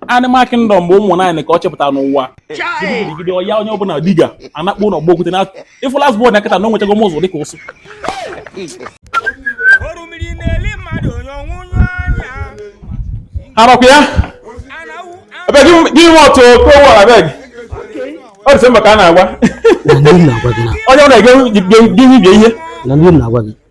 Animal Kingdom bụ ụmụ nwaanyị ka ọ chịpụtara n'ụwa gidigidi oya onye ọbụla diga anakpọ n'ogbo okwute na ịfụ last born ya kịta na o nwechago m ụzọ dịka ụsụ arọkwa ya ebe gị nwe ọtụ kowa abeg ọ dị mba ka a na-agwa onye ọ na-ege gị ihe na ndị na-agwa gị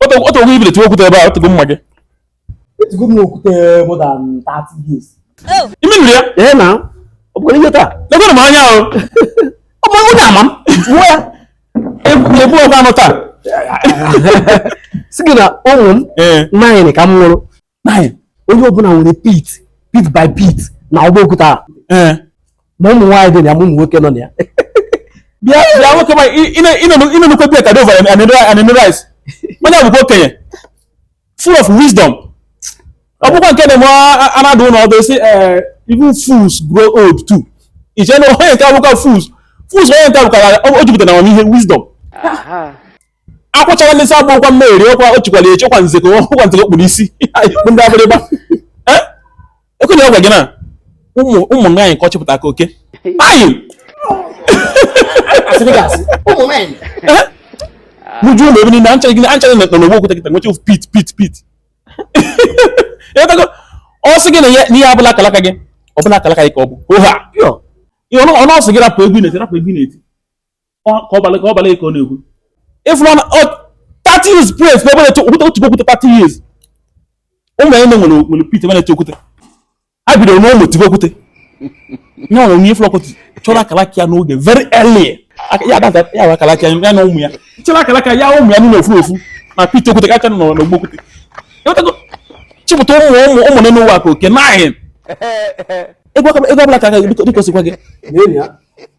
o teego i bido tiwe okwute ebe a o teego mma gị etigo m okwute more than 30 years ime nri ya ee na ọ bụkwara ihe taa legoro m anya ahụ ọ bụ onye ama m jụọ ya ebu ọgwa anụ taa sị gị na ụmụ nwaanyị ka m mụrụ Nine. onye ọbụla nwere pit pit by pit n'ogbo okwute a Eh. ma ụmụ nwaanyị dị na ya ma ụmụ nwoke nọ na ya bịa bịa nwoke m ka ị nụkwa bịa ka dị overe anene rice onye a bụkwa okenye full of wisdom ọ bụkwa nke na-eme a na-adụ ụnụ ọdụ sị eh, even fools grow old too i che na onye nke a bụkwa fools fools onye nke a bụkwa o jupụtara na amamihe wisdom Aha. akwụchara ndị sa gbụkwa mmeri ọkwa o chikwara eche kwa nzeko ọkwa nzeko kpụrụ isi kpụ ndị Abịrịba ekwere ọ gwa gị na ụmụ ụmụ nwaanyị ka ọ chịpụta ka oke ayi mụju ụlọ ebe niile ha ncha ha ncha nọ n'ogbo okwute kịta nweche pit pit pit ọ sị gị na ihe abụla akalaka gị ọbụla akalaka gị ka ọ bụ oha ọnụ ọ sị gị rapụ egwu na-eti rapụ egwu na-eti ka ọbala ka ọbala ka ọ na-ekwu ịfụrụ na ọ 30 years plus ebe na-eti okwute otu okwute 30 years ụmụ ya nwere nwere pit ebe na-eti okwute ha bidoro n'ụmụ tibe okwute nye nwere onye ịfụrụ ọkụtụ chọrọ akalaka ya n'oge very early ya ada ya wa akalaka ya na ụmụ ya chọrọ akalaka ya ụmụ ya n'ofu ofu na pit okwute ka ha ncha nọ n'ogbo okwute chịpụta ụmụ ụmụ ụmụ nọ n'ụwa ka oke nine ego ọbụla ka dịka ọ sịkwa gị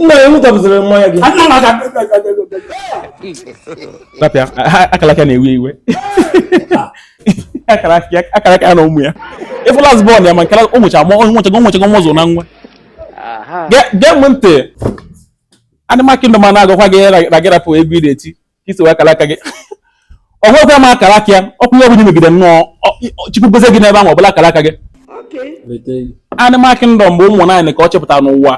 nna ya nwụtabụziri nwa ya gị rapịa akara aka na-ewe iwe akara aka ya na ụmụ ya ịfụ last born ya ma nke ụmụ cha ma onye nwechago nwechago nwa ụzọ na nwa gee m ntị Animal Kingdom a na-agwakwa gị na gị rapụ egwu ị na-eti ka isi wee akara aka gị ọ hụrụkwa m akara aka ya o kwuo ihe ọbụla megide nnọọ chukwu gozie gị n'ebe ahụ ọbụla akara aka gị Animal Kingdom bụ ụmụ nwaanyị ka ọ chịpụta n'ụwa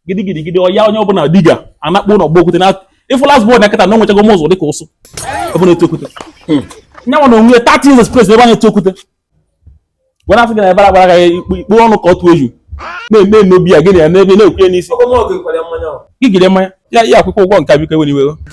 gidigidigidi oya onye ọbụla diga anakpọ n'ogbo okwute na ịfụ last born ya kịta na o nwechago m ụzọ dịka ụsụ ebe na-eti okwute hmm. nya nwa n'onwe ya 30 years plus ebe a na-eti okwute were afọ gị na ebara gbara gị ikpe ọnụ ka ọ tụọ eju na-eme eme obi ya gị na ya n'ebe na-ekwu ya n'isi gị jide mmanya ya akwụkwa ụgwọ nke a biko ewena iwe